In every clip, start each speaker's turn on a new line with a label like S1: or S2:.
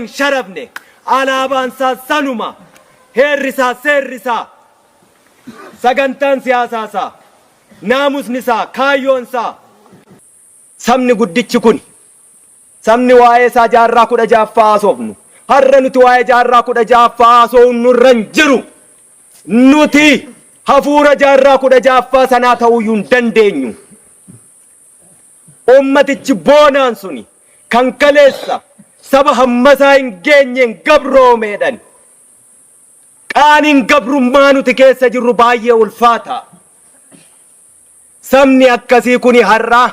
S1: hin sharafne alaabaan isaas sanuma heerri isaa seerri isaa sagantaan siyaasaa isaa naamusni isaa kaayyoon isaa sabni guddichi kuni sabni waa'ee isaa jaarraa kudha jaaffaa haasofnu har'a nuti waa'ee jaarraa kudha jaaffaa haasofnu irra hin jiru nuti hafuura jaarraa kudha jaaffaa sanaa ta'uu hin dandeenyu. Ummatichi boonaan suni kan kaleessa saba hammasaa hin geenyeen gabroomeedhan. Qaaniin gabrummaa nuti keessa jirru baay'ee ulfaata. Sabni akkasii kuni har'aa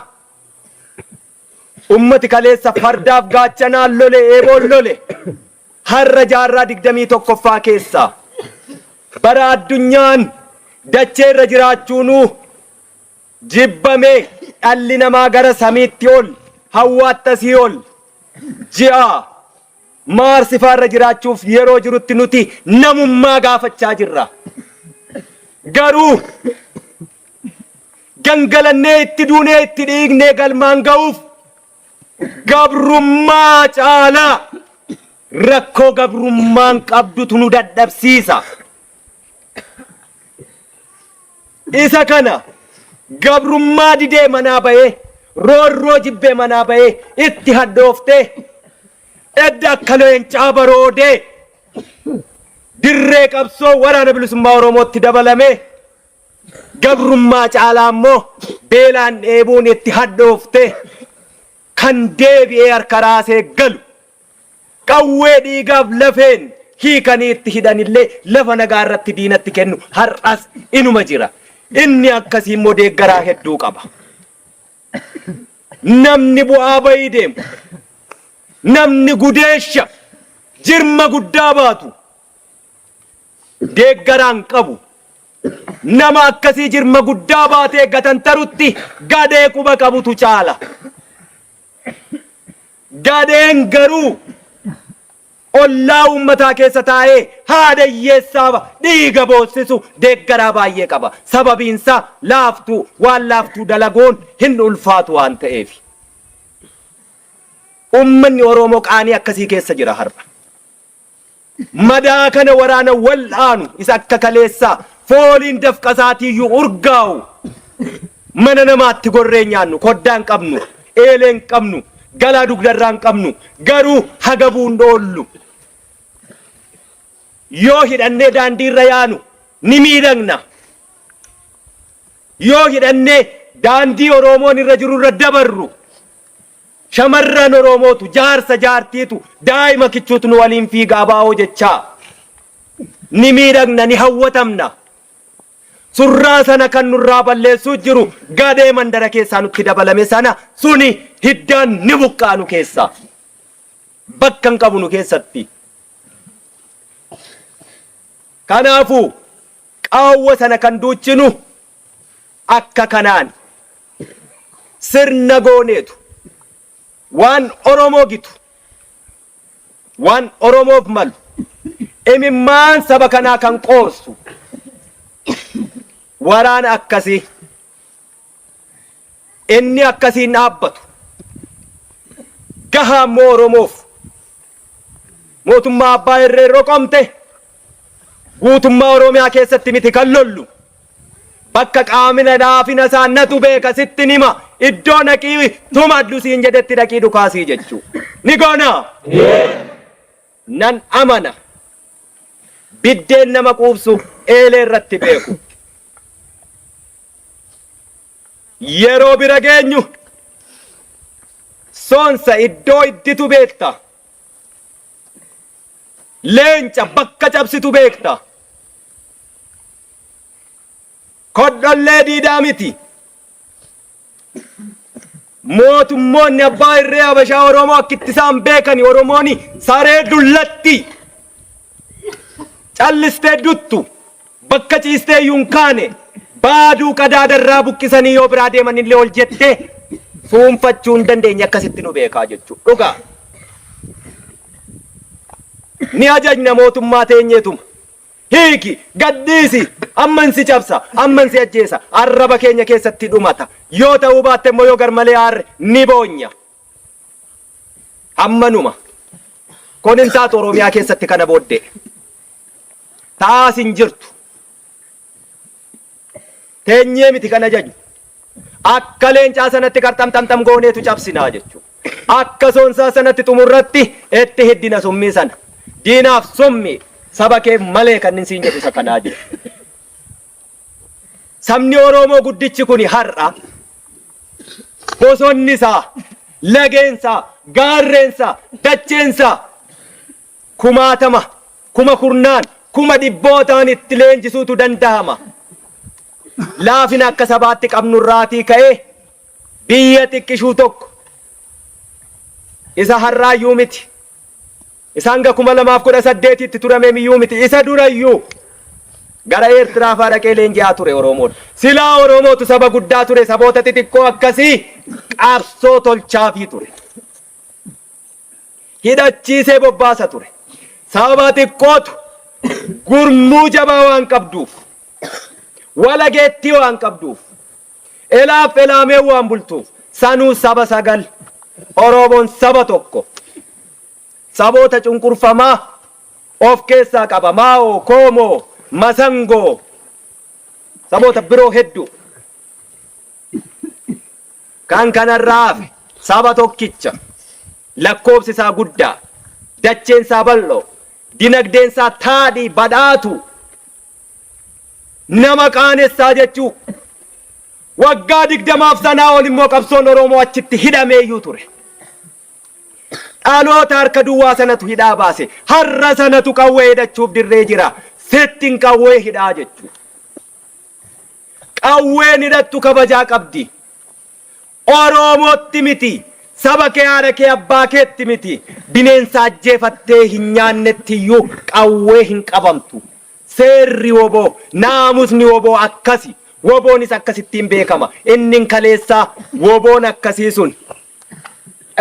S1: ummati kaleessa fardaaf gaachanaan lole, eeboon lole har'a jaarraa 21ffaa keessa bara addunyaan dachee irra jiraachuunuu jibbame, dhalli namaa gara samiitti ol, hawwaatta sii'ol, ji'a, Mars faa irra jiraachuuf yeroo jirutti nuti namummaa gaafachaa jirra. Garuu gangalannee itti duunee itti dhiignee galmaan ga'uuf gabrummaa caalaa rakkoo gabrummaan qabdutu nu dadhabsiisa. Isa kana gabrummaa didee manaa bahee roorroo jibbee manaa bahee itti hadhooftee edda akka leencaa baroodee dirree qabsoo waraana bilisummaa Oromootti dabalamee gabrummaa caalaa immoo beelaan dheebuun itti hadhooftee kan deebi'ee harka raasee galu Qawwee dhiigaaf lafeen hiikanii itti hidhan illee lafa nagaa irratti diinatti kennu har'as inuma jira. Inni akkasii immoo deeggaraa hedduu qaba. Namni bu'aa ba'ii deemu, namni gudeesha jirma guddaa baatu deeggaraa hin qabu. Nama akkasii jirma guddaa baatee gatantarutti gadhee quba qabutu caala. Gadheen garuu ollaa uummataa keessa taa'ee haadha hiyyeessaaf dhiiga boossisu deeggaraa baay'ee qaba. Sababiinsaa laaftuu, waan laaftuu dalaguun hin ulfaatu waan ta'eefi. Uummanni Oromoo qaanii akkasii keessa jira har'a. Madaa kana waraana wal'aanu isa akka kaleessaa fooliin dafqa isaatiiyyuu urgaa'u mana namaatti gorree nyaannu koddaa hin qabnu, eelee hin qabnu, galaa dugdarraa hin qabnu garuu hagabuu hin oollu. Yoo hidhannee daandiirra yaanu ni miidhagna. Yoo hidhannee daandii Oroomoon irra jirurra dabarru. Shamarran Oromootu, jaarsa jaartiitu, daa'ima kichuutu nu waliin fiiga abo jechaa. Ni miidhagna, ni hawwatamna. Surraa sana kan nurraa balleessuu jiru gadhee mandara keessaa nutti dabalame sana suni hiddaan ni buqqa'a nu keessaa. Bakka hin qabu nu keessatti. Kanaafuu qaawwa sana kan duuchinu Akka kanaan sirna gooneetu waan Oromoo gitu, waan Oromoof malu, imimmaan saba kanaa kan qoorsu waraana akkasii inni akkasiin dhaabbatu gahaammoo Oromoof. Mootummaa abbaa irree roqomte guutummaa Oromiyaa keessatti miti kan lollu. Bakka qaamina laafina isaa natu beeka sittin hima iddoo dhaqii tumadhu siin jedhetti dhaqii dhukaasii jechuu. Ni goona. Nan amana. Biddeen nama quubsu eelee irratti beeku. Yeroo bira geenyu soonsa iddoo idditu beekta. Leenca bakka cabsitu beekta. Kodhollee diidaa miti. Mootummoonni abbaa irree Habashaa Oromoo akka itti isaan beekani Oromooni saree dullatti callistee duttu bakka ciistee iyyuu hin kaane baaduu qadaada irraa buqqisanii yoo biraa deeman illee ol jettee fuunfachuu hin dandeenye akkasitti nu beekaa jechuu dhugaa ni ajajna mootummaa teenyeetuma. Hiiki! Gad dhiisi! Amman si cabsa! Amman si ajjeesa! Arraba keenya keessatti dhumata. Yoo ta'uu baatte immoo yoo garmalee aarre ni boonya. Ammanuma. Kun hin taatu Oromiyaa keessatti kana booddee. Ta'aas hin jirtu. teenyee miti kan ajaju. Akka leencaa sanatti qarxamxamxam gooneetu cabsinaa jechuudha. Akka soonsaa sanatti xumurratti itti hiddina summii sana. Diinaaf summii saba keef malee kan inni siin jedhu isa kanaa jiru. Sabni Oromoo guddichi kuni har'a bosonni isaa, lageen isaa, gaarreen isaa, dacheen isaa kumaatama, kuma kurnaan, kuma dhibbootaan itti leenjisuutu dandahama. Laafina akka sabaatti qabnu irraatii ka'ee biyya xiqqishuu tokko, isa har'aayyuu miti, isa hanga 2018tti turameemiyyuu miti, isa durayyuu gara Eertiraa faa dhaqee leenji'aa ture Oromoon. Silaa Oromootu saba guddaa ture, saboota xixiqqoo akkasii qabsoo tolchaafii ture. hidhachiisee bobbaasa ture. Sababa xiqqootu gurmuu jabaa waan qabduuf, walageettii waan qabduuf, elaaf elaamee waan bultuuf sanuu saba sagal Oromoon saba tokko saboota cunqurfamaa of keessaa qaba Maao, Koomoo, Masangoo saboota biroo hedduu. Kan kanarraa hafe saba tokkicha lakkoofsi isaa guddaa, dacheen isaa bal'oo, dinagdeen isaa taadhii badhaatu nama qaanessaa jechuu. Waggaa digdamaaf sanaa ol immoo qabsoon Oromoo achitti hidhameeyyuu ture. Dhaloota harka duwwaa sanatu hidhaa baase. Har'a sanatu qawwee hidhachuuf dirree jira. Sittin qawwee hidhaa jechuu. Qawween hidhattu kabajaa qabdi. Oroomootti miti, saba kee haadha kee abbaa keetti miti, bineensa ajjeefattee hin nyaannetti iyyuu qawwee hin qabamtu. Seerri wbo, naamusni wbo akkasi. Wboonis akkasittiin beekama. Innin kaleessaa wboon akkasii sun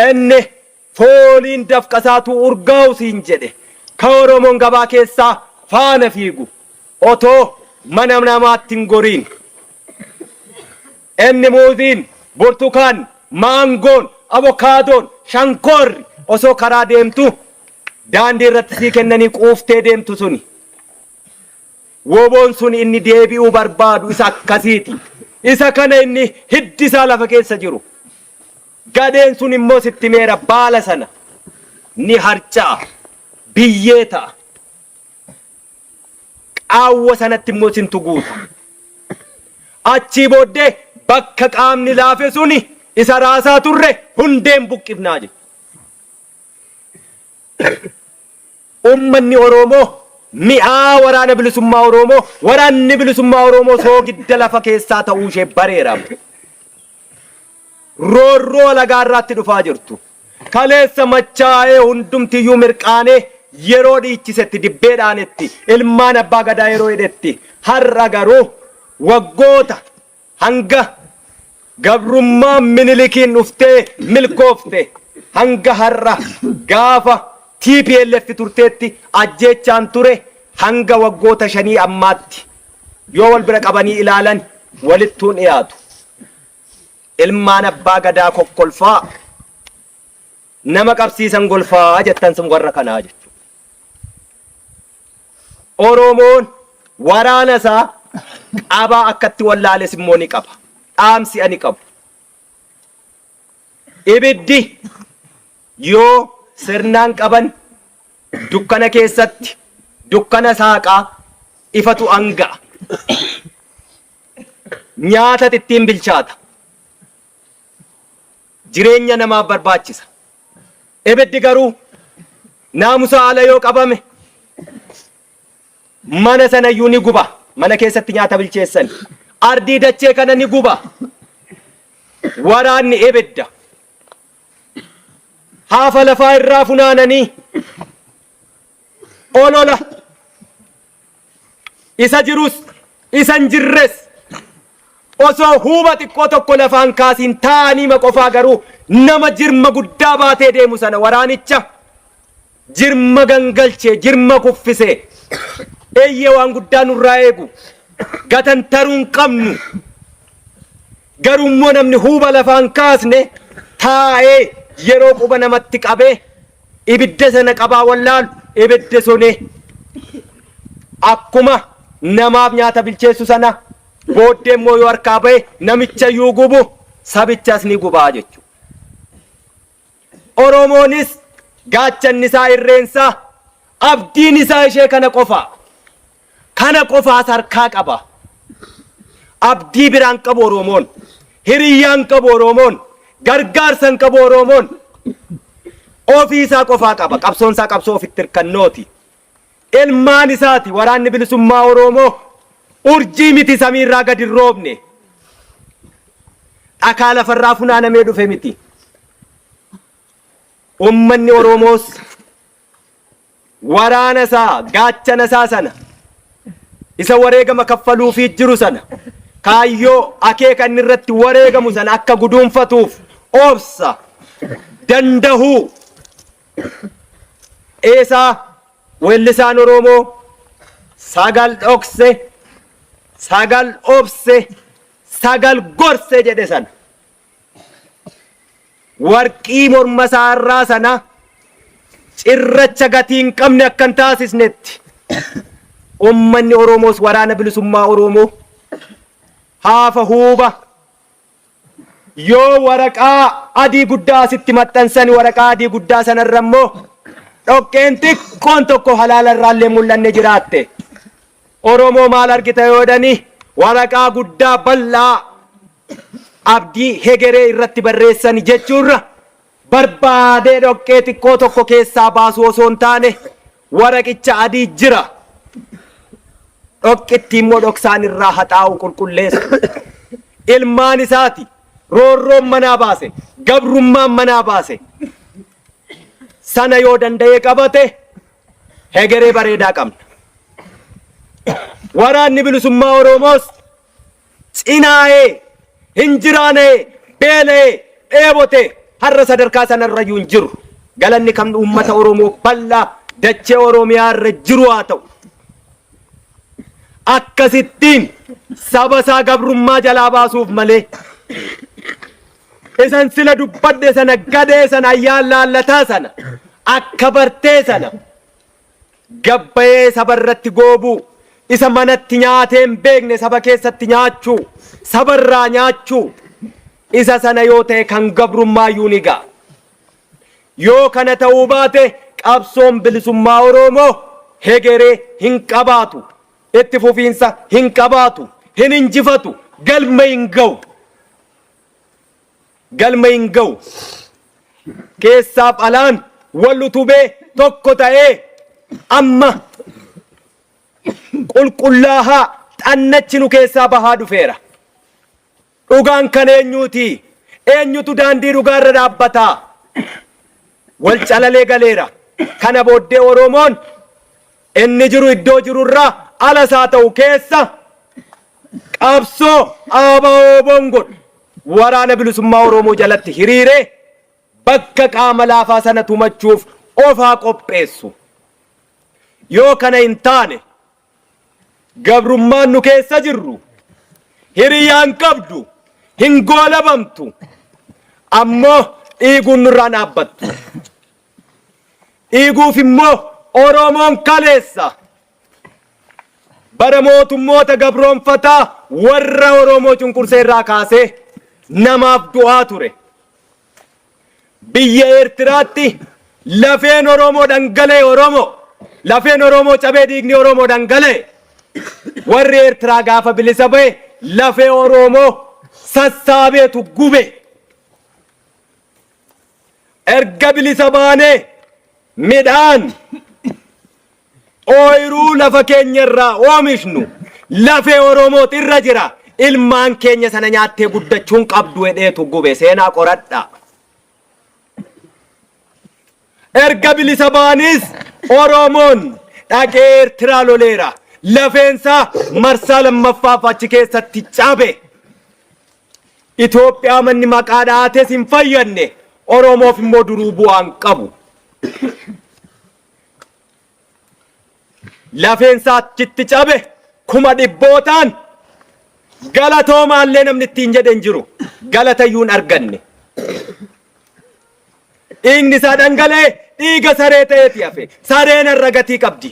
S1: inni Fooliin dafqasaatu urgaawu siin jedhe ka Oromoon gabaa keessaa faana fiigu otoo mana namaatti hin goriin. Inni muuziin, burtukaanni, maangoon, abokaadoon, shankoorri osoo karaa deemtu daandii irratti sii kennanii quuftee deemtu suni. Woboon sun inni deebi'uu barbaadu isa akkasiiti. Isa kana inni hiddi isaa lafa keessa jiru. Gadheen sun immoo sitti himeera, baala sana ni harca'a, biyyee ta'a, qaawwa sanatti immoo isintu guuta. Achii booddee bakka qaamni laafe suni isa raasaa turre hundeen buqqifnaa jedhe. Uummanni Oroomoo mi'aa Waraana Bilisummaa Oroomoo, Waraanni Bilisummaa Oroomoo soogidda lafa keessaa ta'uu ishee bareera. Roorroo alagaa irraatti dhufaa jirtu, kaleessa machaa'ee hundumti iyyuu mirqaanee yeroo dhiichisetti, dibbee dhaanetti, ilmaan Abbaa Gadaa yeroo hidhetti, har'a garuu waggoota. Hanga gabrummaan Minilikiin dhuftee milkoofte hanga har'a gaafa tplf turteetti ajjeechaan ture hanga waggoota shanii ammaatti yoo wal bira qabanii ilaalan walittuu hin dhiyaatu. Ilmaan Abbaa Gadaa kokkolfaa. nama qabsiisan golfaa jettan sun warra kanaa jechuudha. Oromoon waraana isaa qabaa akkatti wallaales immoo ni qaba. Dhaamsi ani qabu. Ibiddi yoo sirnaan qaban dukkana keessatti dukkana saaqaa ifatu anga'a. Nyaata ittiin bilchaata. jireenya namaaf barbaachisa. Ibiddi garuu naamusaa ala yoo qabame mana sana iyyuu ni guba. Mana keessatti nyaata bilcheessan ardii dachee kana ni guba. Waraanni ibidda haafa lafaa irraa funaananii olola Isa jirus isa hin jirres osoo huuba xiqqoo tokko lafaa hin kaasiin taa'aniima qofaa garuu nama jirma guddaa baatee deemu sana waraanicha jirma gangalchee, jirma kuffisee eeyyee waan guddaa nurraa eegu gatantaruu hin qabnu. Garuu immoo namni huuba lafaa hin kaasne taa'ee yeroo quba namatti qabee ibidda sana qabaa wallaalu ibiddi suni akkuma namaaf nyaata bilcheessu sana booddee immoo yoo harkaa ba'e namicha iyyuu gubu sabichas ni gubaa jechuudha. Oromoonis gaachanni isaa irreen isaa abdiin isaa ishee kana qofa. Kana qofaas harkaa qaba. Abdii biraa hin qabu Oroomoon. Hiriyyaa hin qabu Oroomoon. Gargaarsa hin qabu Oroomoon. Ofii isaa qofaa qaba. Qabsoon isaa qabsoo ofitti hirkannooti. Ilmaan isaati waraanni bilisummaa Oroomoo urjii miti samiirraa gadi hin roobne. Dhakaa lafarraa funaanamee dhufe miti. Ummanni Oroomoos Waraana isaa, gaachana isaa sana, isa wareegama kaffaluufii jiru sana, kaayyoo, akeeka inni irratti wareegamu sana akka guduunfatuuf obsa, dandahuu, eesaa weellisaan Oroomoo sagal dhokse, sagal obse, sagal gorse jedhe sana. warqii morma isaa irraa sana cirracha gatii hin qabne akka hin taasisnetti ummanni Oromoos waraana bilisummaa Oromoo haafa huuba yoo waraqaa adii guddaa asitti maxxansan waraqaa adii guddaa sanarra immoo dhoqqeen xiqqoon tokko halaala irraallee mul'anne jiraatte. Oromoo maal argita yoo jedhani waraqaa guddaa bal'aa abdii hegeree irratti barreessani jechuu irra barbaadee dhoqqee xiqqoo tokko keessaa baasuu osoo hin taane waraqicha adii jira dhoqqittii immoo dhoksaan irraa haxaa'u qulqulleessu ilmaan isaati roorroon manaa baase gabrummaan manaa baase sana yoo danda'ee qabate hegeree bareedaa qabna. Waraanni bilisummaa Oromoos Cinaa'ee, hin jiraana'ee, beela'ee, dheebotee, har'a sadarkaa sana irra iyyuu hin jiru. Galanni kan uummata Oromoo bal'aa dachee Oromiyaa irra jiru haa ta'u. Akkasittiin saba isaa gabrummaa jalaa baasuuf malee, isan sila dubbadhe sana, gadhee sana, ayyaan laallataa sana, akka bartee sana, Gad ba'ee saba irratti goobuu, isa manatti nyaatee hin beekne saba keessatti nyaachuu, saba irraa nyaachuu, isa sana yoo ta'e kan gabrummaa iyyuu ni ga'a. Yoo kana ta'uu baate qabsoon bilisummaa Oroomoo hegeree hin qabaatu, itti fufiinsa hin qabaatu, hin injifatu, galma hin ga'u. galma hin ga'u. Keessaaf alaan wal utubee tokko ta'ee amma qulqullaahaa xannachi nu keessaa bahaa dhufeera. Dhugaan kan eenyuuti? Eenyutu daandii dhugaa irra dhaabbata? Wal calalee galeera. Kana booddee Oromoon Inni jiru iddoo jiru irraa alas haa ta'u keessa qabsoo ABO-WBOn godhu Waraana Bilisummaa Oromoo jalatti hiriiree bakka qaama laafaa sana tumachuuf of haa qopheessu. Yoo kana hin taane gabrummaan nu keessa jirru hiriyaa hin qabdu, hin goolabamtu, ammoo dhiiguun nurraa hin dhaabbattu. dhiiguuf immoo Oromoon kaleessa bara mootummoota gabroonfataa warra Oromoo cunqursee irraa kaasee namaaf du'aa ture. Biyya Eertiraatti lafeen Oromoo dhangalee Oromoo lafeen Oromoo cabee dhiigni Oromoo dhangalee warri Eertiraa gaafa bilisa ba'e lafee Oromoo sassaabeetu gube. Erga bilisa baanee midhaan ooyiruu lafa keenya irraa oomishnu lafee Oromoot irra jira. Ilmaan keenya sana nyaattee guddachuu hin qabdu jedheetu gube. Seenaa qoradhaa. Erga bilisa ba'aniis Oromoon dhaqee Eertiraa loleera. Lafeensaa marsaa lammaffaaf achi keessatti cabe. Itoophiyaa manni maqaa dha'ates hin fayyadne. Oromoof immoo duruu bu'aan qabu. lafeen isaa achitti cabe kuma dhibbootaan galatoomaallee namni ittiin jedhe hin jiru galatayyuu hin arganne dhiigni isaa dhangala'e dhiiga saree ta'eeti hafe sareen irra gatii qabdi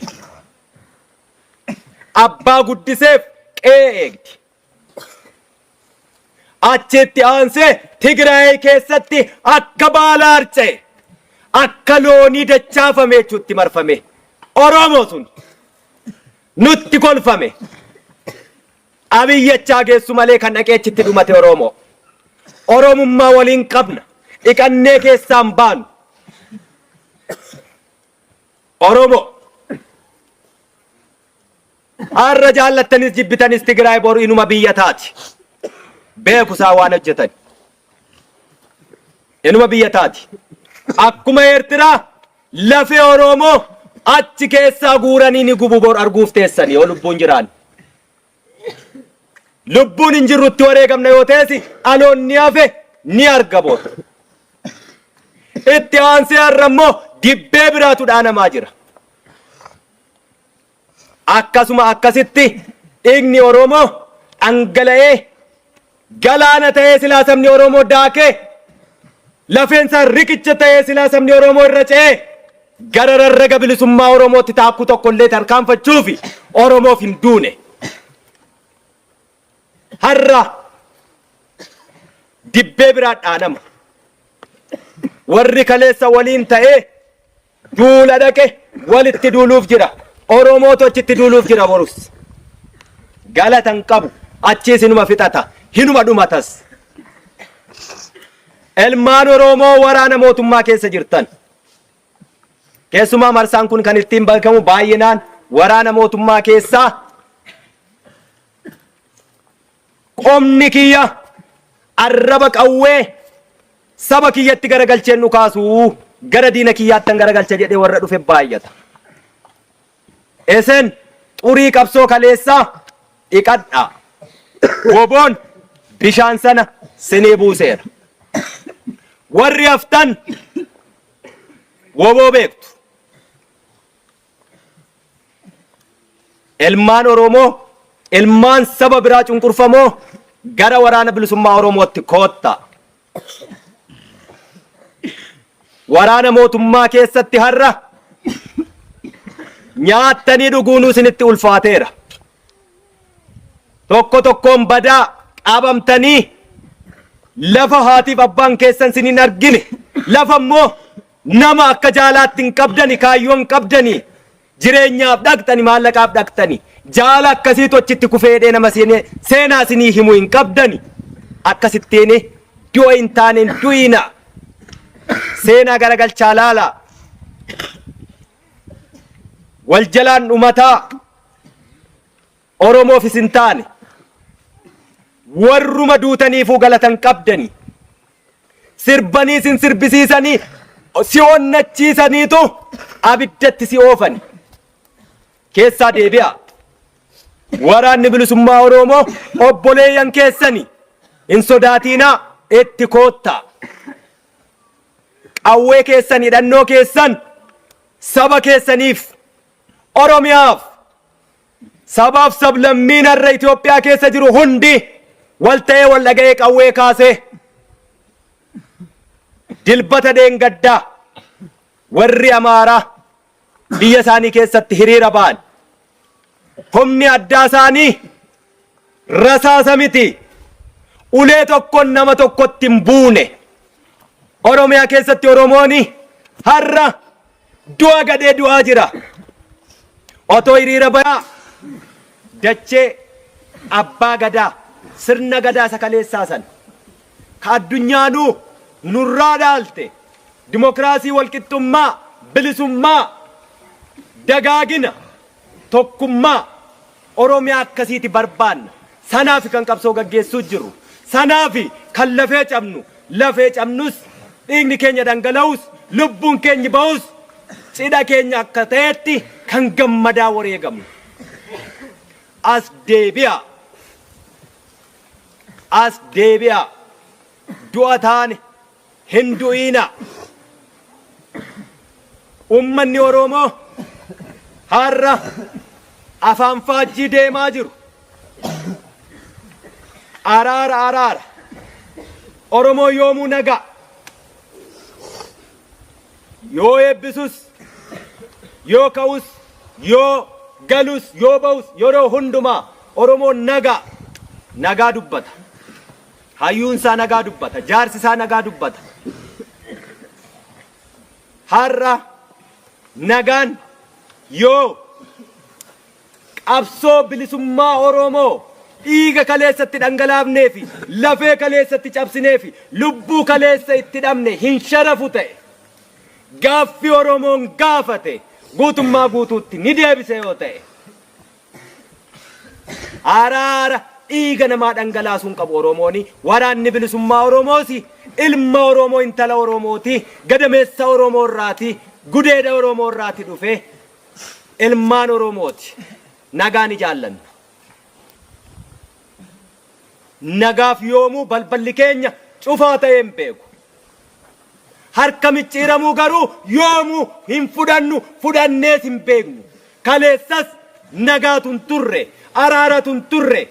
S1: abbaa guddiseef qe'ee eegdi Achitti aansee Tigraay keessatti akka baala harca'e akka loonii dachaafame jechuutti marfame. Oromoo sun nutti kolfame. Abiyyi achaa geessu malee kan dhaqee achitti dhumate Oromoo. Oromummaa waliin qabna. Dhiqannee keessaan baanu. Oromoo. Har'a jaallattanis jibbitanis Tigraay boru inuma biyya taati. Beeku isaan waan hojjetan. Inuma biyya taati. Akkuma Eertiraa lafee Oroomoo achi keessaa guuranii ni gubu bor arguuf teessani yoo lubbuun jiraan. Lubbuun hin jirrutti wareegamna yoo teessi dhaloonni hafe ni arga bor. Itti aansee har'a immoo dibbee biraatu dhaanamaa jira. Akkasuma akkasitti dhiigni Oromoo dhangala'ee galaana ta'ee silaa sabni Oromoo daakee lafeensaa riqicha ta'ee silaa sabni Oromoo irra ce'ee gara rarraga bilisummaa Oromootti taakkuu tokkollee tarkaanfachuufi Oromoof hin duune. Har'a dibbee biraa dhaanama. Warri kaleessa waliin ta'ee Duula dhaqe walitti duuluuf jira. Oromootu achitti duuluuf jira borus. Galata hin qabu. Achiis hinuma fixata. Hinuma dhumatas. Ilmaan Oromoo waraana mootummaa keessa jirtan. Keessumaa marsaan kun kan ittiin beekamu baay'inaan waraana mootummaa keessaa Qomni kiyya arraba qawwee saba kiyyatti garagalcheen dhukaasu, gara diina kiyyaattan garagalcha jedhee warra dhufe baay'ata. Isin xurii qabsoo kaleessaa dhiqadhaa. Woboon bishaan sana sinii buuseera. Warri haftan woboo beektu. Ilmaan Oromoo, ilmaan saba biraa cunqurfamoo gara waraana bilisummaa Oromootti koottaa. Waraana mootummaa keessatti har'a nyaattanii dhuguunuu isinitti ulfaateera. Tokko tokkoon badaa qabamtanii lafa haatiif abbaan keessan isin hin argine lafa immoo Nama akka jaalaatti hin qabdani kaayyoo hin qabdani jireenyaaf dhaqxani maallaqaaf dhaqxani jaala akkasiitu achitti kufee jedhee nama seenee seenaa sinii himu hin qabdani akkasittiin du'a hin taane hin du'iina seenaa garagalchaa laala wal jalaan dhumataa Oromoof isin taane. Warruma duutaniifuu galata hin qabdanii. Sirbanii isin sirbisiisanii si onnachiisaniitu abiddatti si oofani. Keessaa deebi'aa. Waraanni bilisummaa Oromoo obboleeyyan keessani. Hin sodaatiinaa itti koottaa. Qawwee keessan hidhannoo keessan saba keessaniif Oromiyaaf Sabaaf sablammiin har'a Itoophiyaa keessa jiru hundi wal ta'ee wal dhaga'ee qawwee kaasee dilbata deengaddaa warri Amaaraa biyya isaanii keessatti hiriira ba'an humni addaa isaanii rasaasa miti ulee tokkoon nama tokkotti hin buune Oromiyaa keessatti Oromooni har'a Du'a gadhee du'aa jira. Otoo hiriira bayaa dachee abbaa gadaa sirna gadaa isa kaleessaa san ka addunyaanuu nurraa dhaalte dimokiraasii walqixxummaa bilisummaa dagaagina tokkummaa Oromiyaa akkasiiti barbaanna. Sanaafi kan qabsoo gaggeessuu jirru. Sanaafi kan lafee cabnu. Lafee cabnus, dhiigni keenya dhangala'us, lubbuun keenyi ba'us cidha keenya akka ta'etti kan gammadaa wareegamnu. As deebi'aa! As deebi'aa! Du'a taane, Hin du'iinaa! Ummanni Oroomoo har'a afaan faajjii deemaa jiru. Araara araara. Oromoo yoomuu nagaa. Yoo eebbisus, yoo ka'us, yoo galus, yoo ba'us yeroo hundumaa Oromoon nagaa nagaa dubbata. Hayyuun isaa nagaa dubbata. Jaarsi isaa nagaa dubbata. Har'a nagaan yoo qabsoo bilisummaa Oromoo dhiiga kaleessatti dhangalaafnee fi lafee kaleessatti cabsinee fi lubbuu kaleessa itti dhabne hin sharafu ta'e gaaffi Oromoon gaafate guutummaa guutuutti ni deebise yoo ta'e. Araara dhiiga namaa dhangalaasuu hin qabu Oromooni. Waraanni Bilisummaa Oromoosi. Ilma Oromoo intala Oromooti. Gadameessa Oromoo irraati. Gudeeda Oromoo irraati dhufe. Ilmaan Oromooti. Nagaa ni jaallanna. Nagaaf yoomuu balballi keenya cufaa ta'ee hin beeku. Harka micciiramuu garuu yoomuu hin fudhannu, fudhannees hin beeknu. Kaleessas nagaatu hin turre, araaratu hin turre.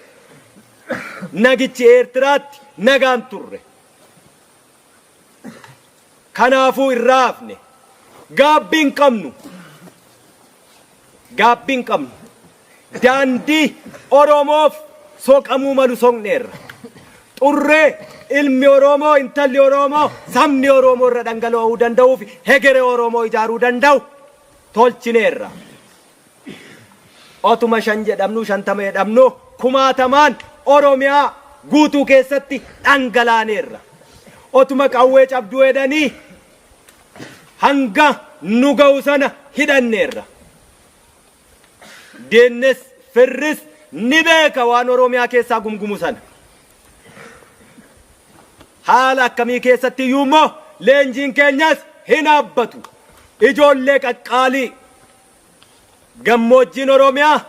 S1: Nagichi Eertiraatti nagaa hin turre. Kanaafuu irraa hafne gaabbii hin qabnu. Gaabbii hin qabnu. Daandii Oromoof soqamuu malu soqneerra. Xurree ilmi Oromoo, intalli Oromoo, sabni Oromoo irra dhangala'uu danda'uu fi hegere Oromoo ijaaruu danda'u tolchineerra. Otuma shan jedhamnuu shantama jedhamnuu kumaatamaan Oromiyaa guutuu keessatti dhangalaaneerra. Otuma qawwee cabduu jedhanii hanga nu ga'u sana hidhanneerra. Diinnis firris ni beeka waan Oromiyaa keessaa gumgumu sana. Haala akkamii keessatti iyyuu immoo leenjiin keenyas hin dhaabbatu. Ijoollee qaqqaalii Gammoojjiin Oromiyaa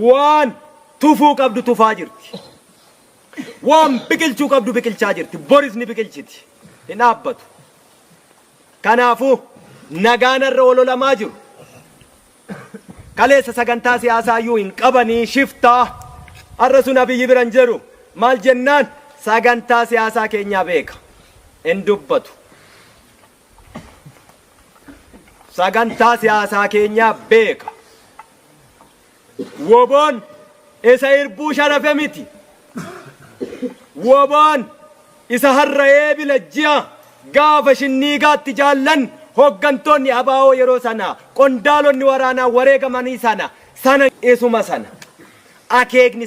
S1: waan tufuu qabdu tufaa jirti. Waan biqilchuu qabdu biqilchaa jirti. Boris ni biqilchiti. Hin dhaabbatu. Kanaafuu nagaan irra ololamaa jiru. Kaleessa sagantaa siyaasaa iyyuu hin qabanii shiftaa. Har'a sun abiyyi bira hin jiru. Maal jennaan sagantaa siyaasaa keenyaa beeka. Hin dubbatu. sagantaa siyaasaa keenyaa beeka. Woboon isa irbuu sharafe miti. Woboon isa har'a eebila ji'a gaafa shinniigaatti jaallan hooggantoonni abaa'oo yeroo sana qondaalonni waraanaa wareegamanii sana sana isuma sana akeekni